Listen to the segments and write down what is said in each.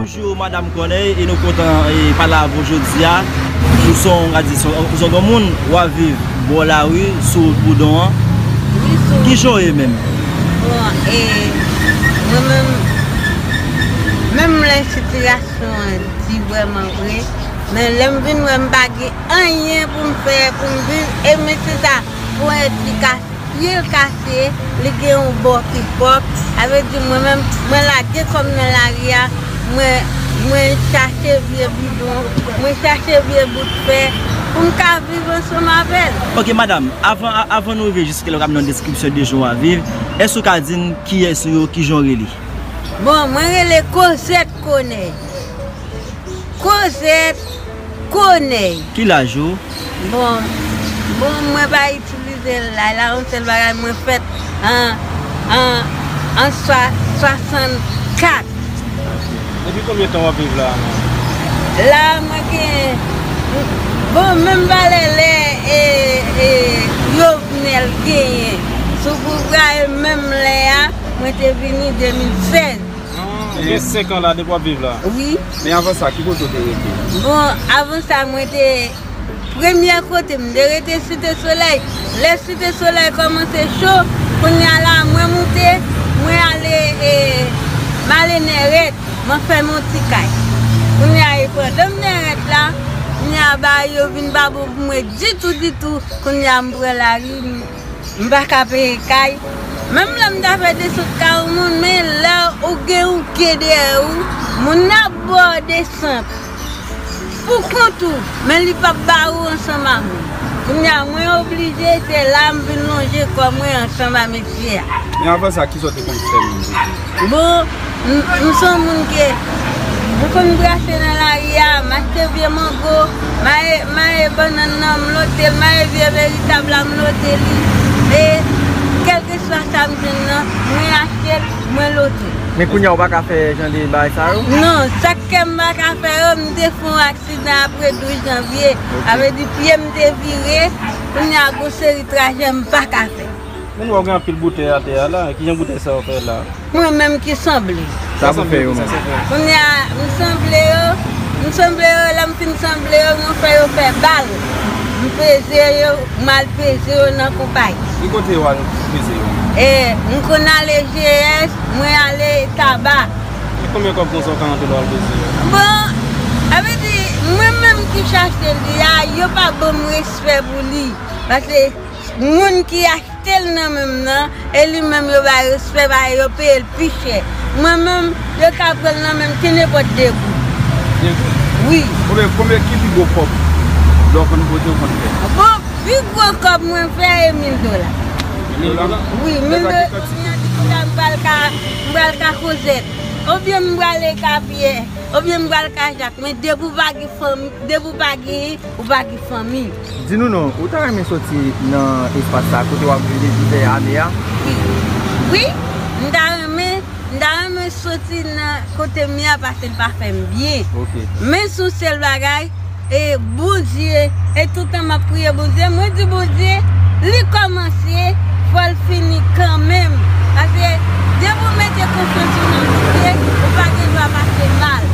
Bonjou madam Corneille e nou kontan pale avè w jodi a ou se yon radisyon ou se yon gran moun w ap viv bò lari sou wout Boudon an ki jan w ye menm? Bon e mwen menm menm lè sitiyasyon an di vrèman vre men lè m vin wè m pa gen Anyen pou m fè pou m viv e mesi sa pou esplikasyon. Pye l kase, li gen yon bò ki pwòp, sa vle di mwen menm mwen lage kò m nan lari a, mwen chache vye bidon, mwen chache vye bout fè pou m ka viv ansanm avè l. Ok madam, avan nou rive jiske lè w ap nan deskripsyon de jan w ap viv, èske ou ka di n kiyès ou yo, kijan w rele? Bon, mwen rele Kozèt Konèy. Kozèt. Koney. Ki laj ou? Bon Bon mwen pa itilize laj la yon sèl bagay mwen fèt an an an 64. Depi konbyen tan wap viv la a menm? La a mwen gen Bon menm valè lè e e Jovenel genyen sou pouvwa e menm lè a mwen te vini 2016. Ou gen 5 an la depi wap viv la? Wi. Men avan sa ki kote ou te rete? Bon avan sa mwen te premye kote mwen te rete site solèy lè site solèy kòmanse cho kounya la mwen moute mwen ale e m ale nèrèt mwen fè m yon ti kay kounya e pandan m nèrèt la kounya bagay yo vin pa bon pou mwen ditou ditou kounya m pran lari m M pa ka peye kay. Menm lè m ta fè desan kay yon moun men lè ou gen yon ke dèyè ou moun nan ap ba w desan pou kont ou men li pap ba ou ansanm ak moun kounye a mwen oblije se la m vin lonje kò mwen ansanm a mesye a. Men avan sa kisa w te konn fè menm pou di. Bon, m s on moun ke m konn brase nan lari a, m achte vye mango, m aye bannann nan, m lote l, m aye vye veritab la, m lote li. E kèlkeswa sa m jwenn nan, mwen achte l, mwen lote l. Men kounye a ou pa ka fè jan de bagay sa yo? Non, sa k fè m pa ka fè yo, m te fè yon aksidan apre 12 janvye. Sa vle di pye m te vire, kounye a gen yon seri trajè m pa ka fè. Men nou wè gen anpil boutèy atè a la, kijan boutèy sa yo fè la? Mwen menm ki sanble. Sa pou fè yo menm? Kounya m sanble yo, m sanble yo lè m fin sanble yo mwen fè yo fè bal, m peze yo, m al peze yo nan konpayi. Ki kote wal peze yo? E, m konn ale GS, mwen ale Taba. E konbyen kòb konsa ou ka rantre lè wal peze yo? Bon, sa vle di mwen menm ki chache li a, yo pa banm respè pou li, pase. Moun ki achte l nan men m nan, e li menm yo bay respè pa e yo peye l pi chè. Mwen menm, yo ka pran l nan men m ti nenpòt 2 goud. 2 goud? Wi. Konbyen, konbyen ki pi gwo kòb lè w konn bote ou konn fè? Bon, pi gwo kòb mwen fè e 1000 dola. 1000 dola? Wi, 1000 dola. Lè sa gen kantite moun? Kounye a di chita m pral ka, m pral ka Kozèt. Oubyen m pral e ka Pyè. Oubyen m pral ka Jak. Men depi w pa gen fanmi, depi w pa gen, ou pa gen fanmi. Di nou non, ou ta renmen soti nan espas sa kote wap viv depi dè ane a? Wi, m ta renmen, m ta renmen soti nan kote m ye a pase l pa fè m byen. Men sou sèl bagay, e Bondye, e toutan map priye Bondye, mwen di Bondye, li kòmanse, fò l fini kanmenm. Pase depi ou mete konfyans ou nan Bondye, ou pa gen dwa pase mal.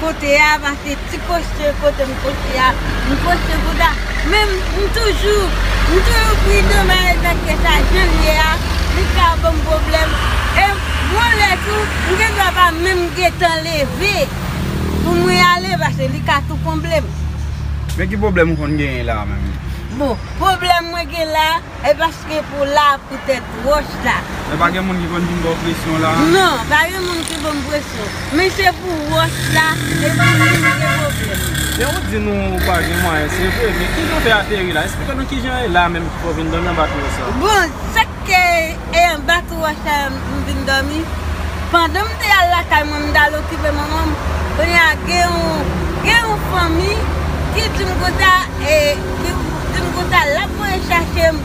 Pote a va se ti poste kote m poste a m poste pou ta men m toujou m toujou pridan m respekte sa jan l ye a li pa ka banm pwoblèm e gon lè tou m gen dwa pa menm gentan leve pou mwen ale pase li ka tou konble m. Men ki pwoblèm ou konn genyen la a menm? Bon pwoblèm mwen gen la a. E paske pou w la pou tèt wòch la. E pa gen moun ki konn vin ba w presyon la? Non, pa gen moun ki ban m presyon. Men se pou wòch la e pou moun ki gen pwoblèm. Men ou di nou ou pa gen mwayen, se vre. Men kijan w fè ateri la? Esplike nou kijan e la menm ki fè w vin dandan ba tro sa? Bon, sa k. E anba tou wòch la m vin dòmi. Pandan m te al lakay mwen m t al okipe manman m, kounye a gen yon fanmi ki di m konsa e ki di m konsa l ap voye chache m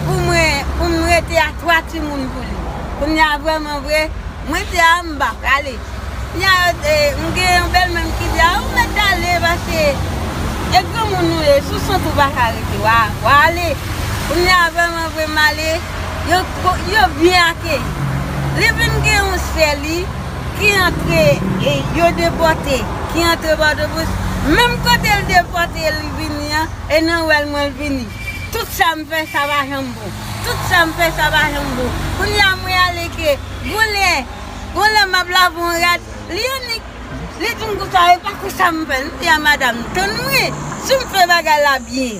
pou mwen pou m rete a 3 timoun pou li. Kounye a vrèman vre mwen te a m pa prale. Kounye a yo te m gen yon bèlmè m ki di a ou mèt ale paske e granmoun ou ye sou sant ou pa ka rete wa ale. Kounye a vrèman vre m ale. yo byen akeyi. Li vin gen yon sè li ki antre, yo depòte, ki antre Pòtoprens. Menm kote l depòte li vini an, e nan wè l mwen l vini. Tout sa m fè sa pa janm bon. Tout sa m fè sa pa janm bon. Kounye a mwen ale ke gon lè, gon lè m ap lave yon rad, li annik. Li di m konsa, e pa konsa m fè l. M di a madam, tann mwen, si m fè bagay la byen.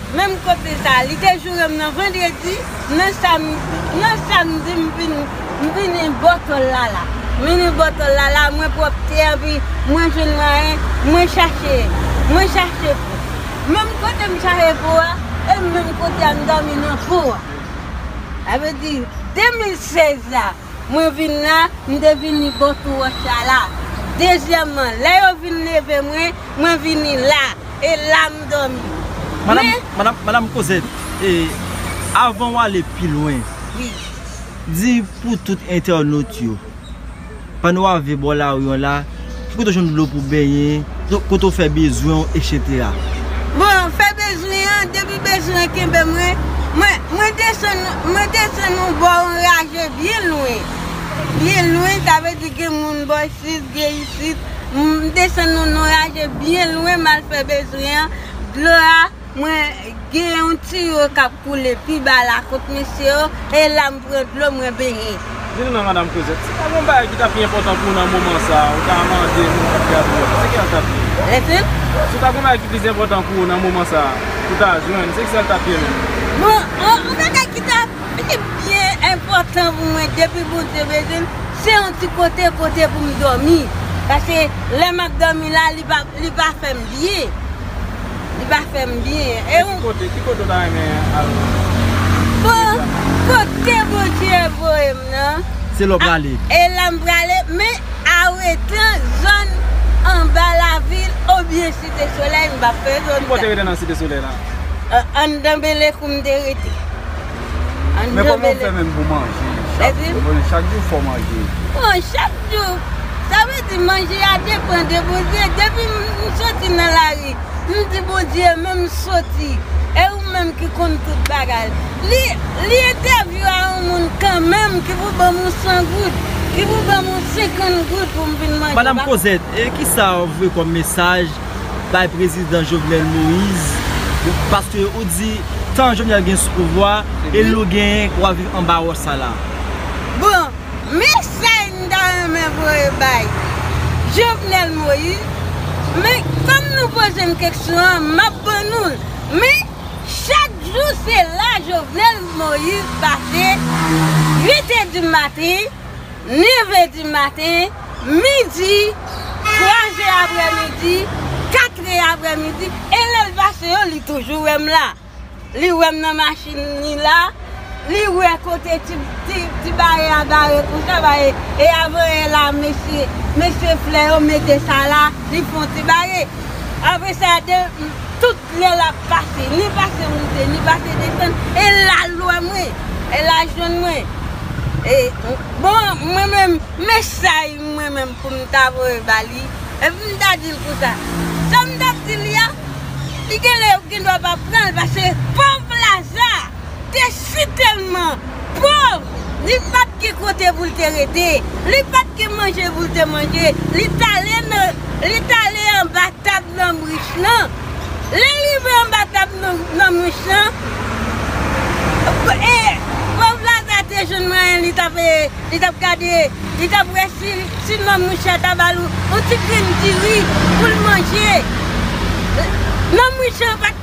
Menm kote sa a li te joure m nan vandredi, nan samdi m vini bòtò l la la. M vini bòtò l la la, mwen pwòpte anpi mwen jwenn mwayen, mwen chache, mwen chache pou. Menm kote m chache pou a, e menm kote a m dòmi nan pou a. Sa vle di 2016 la. Mwen vin la, m te vini bò tou wòch la la. Dezyèmman, lè yo vin leve mwen, mwen vini la, e la m dòmi. Men. Madam, madam Cosette, e, avan w ale pi lwen. Wi. Di pou tout entènot yo, pandan w ave bò lari an la. Ou pito jwenn dlo pou benyen, kote ou fè bezwen ou etc. Bon, fè bezwen an, depi bezwen an kenbe mwen, mwen desann, mwen desann yon bò anraje byen lwen. Byen lwen, sa vle di gen moun bò isit, gen isit. M desann yon anraje byen lwen, m al fè bezwen an. Dlo a. Mwen gen yon tiyo kap koule pi ba la kot mesye yo, e la m pran dlo mwen benyen. Di nou non madam Kozèt, si ta gen yon bagay ki ta pi enpòtan pou ou nan moman sa, ou ta mande moun kap gade ou a, se kiyal tap ye? Efen? Si ta gen yon bagay ki plis enpòtan pou ou nan moman sa, ou ta jwenn, se kiyal tap ye menm? Bon, yon bagay ki ta pi byen enpòtan pou mwen depi Bondye bezwen m, se yon ti kote kote pou m dòmi. Pase lè map dòmi la, li pa fè m byen. Li pa fè m byen. E ki kote? Ki kote ou ta renmen al? Bon, kote Bondye voye m nan. Se la ou prale? E la m prale, men a ou etan zòn anba lavil oubyen Site Solèy m pa fè zòn sa. Ki bo ou te rete nan Site Solèy la? Anndan Bele kou m te rete. Ann Men kòman ou fè menm pou manje chak jou? Mwen konnen chak jou fò manje. Bon chak jou, sa vle di manje a depan de Bondye. Depi m soti nan lari, m di Bondye men m soti e ou menm ki konn tout bagay. Li li entèvyou a yon moun kanmenm ki pou ban m yon 100 goud, ki pou ban m yon 50 goud pou m vin manje. Madam Cosette, e kisa ou vwe kòm mesaj bay prezidan Jovenel Moise paske ou di tan Jovenel gen sou pouvwa e lou genyen k wap viv anba wòch sa la. Bon, mesaj m ta renmen voye bay Jovenel Moise, men fanm nou poze m keksyon an map ban nou l, men chak jou se la Jovenel Moise pase 8 è di maten, 9 è di maten, midi, 3 zè aprè midi, 4 è aprè midi, e lè l pase yo li toujou wè m la. Li wè m nan machin li la, li wè kote ti bare a bare pou sa bare, e avan è la mesye, mesye flè yo mete sa la, li fon ti bare. Apre sa, tout. Lè l ap pase, ni pase moute, ni pase desann, e l al lwen mwen, e l al jwenn mwen. E, bon, mwen menm, men chay mwen menm pou m ta voye ba li, epi m ta di l konsa, sa m t ap di li a, li genlè yo gendwa pa pran l, pase pòv Laza! te sitèlman pòv, li pa t gen kote pou l te rete, li pa t gen manje pou l te manje, li t ale nan, li t ale anba tab nonm rich lan. Lè l rive anba tab nonm rich lan, e, pòv Laza te jwenn mwayen li t ap, li t ap gade, li t ap wè si, si nonm rich la ta ba l yon ti grenn diri pou l manje. Nonm rich lan pa t.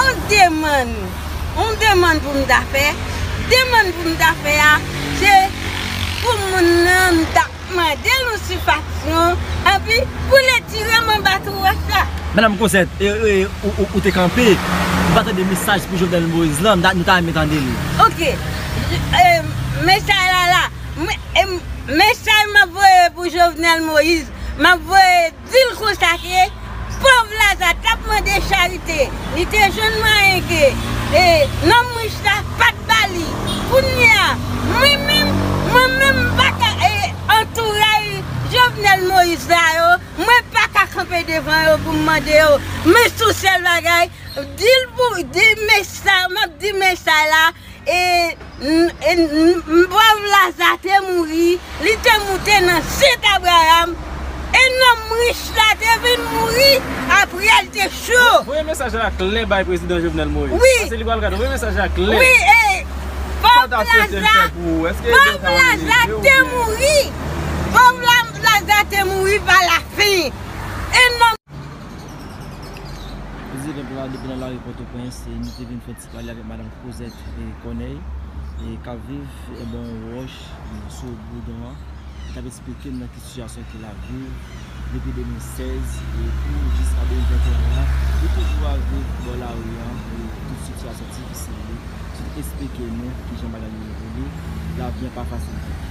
On demann, on demann pou m ta fè, demann pou m ta fè a, se pou moun nan m ta mande l yon sifaksyon, epi pou l etire m anba twouwèt la. Madam Cosette, e ou te kanpe, ou pa tande mesaj pou Jovenel Moïse lan, nou ta renmen tande li. Ok, mesaj la la, mesaj m ap voye pou Jovenel Moïse, m ap voye. Dil konsa ke pov laza tap mande charite li te jwenn mwayen ke nonm rich la pat bali kounyea mwen menm mwen menm mpaka antouray jovenel moïse la yo mwen paka kanpe devan yo poum mande yo men sou sèl bagay dil pou di mesay map di mesay la E n pòv Laza te mouri, li te moute nan jent Abraram, e nonm rich la te vin mouri apre l te cho. Voye mesaj la klè bay prezidan Jovenel Moïse. Wi. Pase li pral gad. Voye mesaj la klè. Wi e pòv Laza te mouri. Pòv Laza te mouri pa la fin. E nonm. Prezidan pral depi nan lari Pòtoprens e nou te vin fè ti. Pale avèk Madan Kozèt Kònèy k ap viv anba yon wòch sou Boudon an, ki t ap esplike m nan ki sitiyasyon ke l ap viv depi 2016 pou jiska 2021 an. Li toujou ap viv bò lari an, tout sitiyasyon difisil li, ki esplike nou ki jan bagay yo ye pou li. Lavi an pa fasil pou li.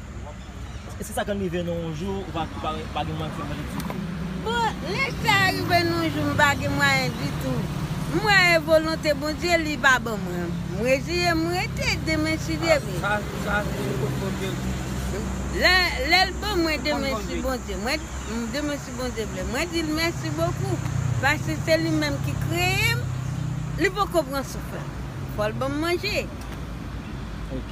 Eske se sa konn rive nou yon jou ou pa pa gen mwayen fè manje ditou? Bon, lè sa rive nou yon jou m pa gen mwayen ditou, m mwayen volonte Bondye li va ban mwen. M reziyen m rete demen si Dye vle. Sa sa se kot Bondye vle. Lè lè l ban mwen demen si Bondye mwen demen si Bondye vle mwen di l mèsi bokou paske se li menm ki kreye m li poko pran souf la fò l ban m manje. Ok.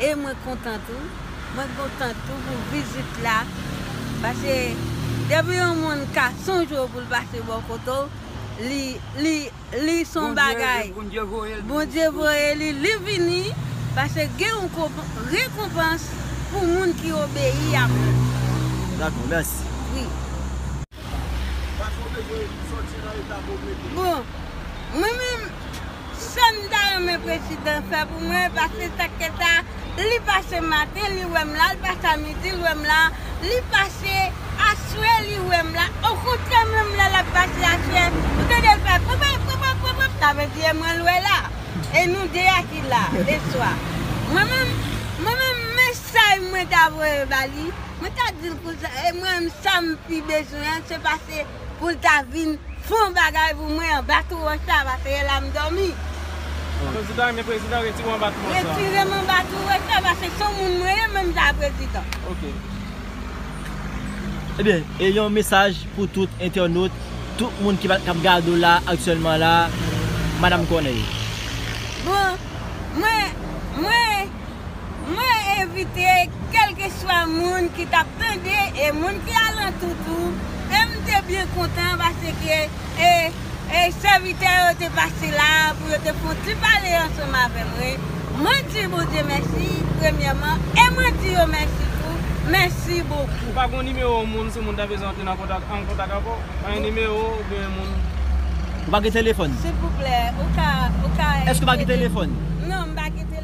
E mwen kontan tou. Mwen kontan tou pou vizit la. Pase depi yon moun ka sonje w pou l pase bò kote w, li se yon bagay. Bondye voye l. Bondye voye li. Li vini. Pase gen yon rekonpans pou moun ki obeyi a moun. Dakò. Mèsi. Wi. Pase w bezwen soti nan eta kote w ye. Bon, mwen menm. Sam ta renmen prezidan fè pou mwen pase sak te sa li pase maten li wèm la li pase a midi li wèm la li pase aswè li wèm la okontrè menm lè lap pase aswè ou tandel fè pwopwop pwopwop pwopwop sa vle di e mwen l wè la e nou 2 a ki la leswa mwen menm mwen menm mesaj mwen ta voye ba li mwen ta dil konsa e mwen menm sam pi bezwen an se pase Poul ta vin fon bagay pou mwen anba tou wòch sa pase e la m dòmi. Prezidan men prezidan retire w anba tou wòch sa. Retire m anba tou wòch sa pase son moun mwen ye menm jan a prezidan. Ok. Ebyen e yon mesaj pou tout entènot, tout moun ki kap gade w la aktyèlman la Madam Corneille. Bon mwen mwen. Mwen envite kèlkeswa moun ki tap tande e moun ki alantou tou e m te byen kontan paske e sèvitè yo te pase la pou yo te fè yon ti pale ansanm avè mwen. Mwen di Bondye mèsi premyèman e mwen di yo mèsi tou. Mèsi bokou. Ou pa gon nimewo moun si moun ta bezwen antre nan kontak an kontak avè w? Pa gen nimewo ou byen moun? Ou pa gen telefòn? Silvouplè ou ka ou ka. Èske ou pa gen telefòn? Non m pa gen telefòn.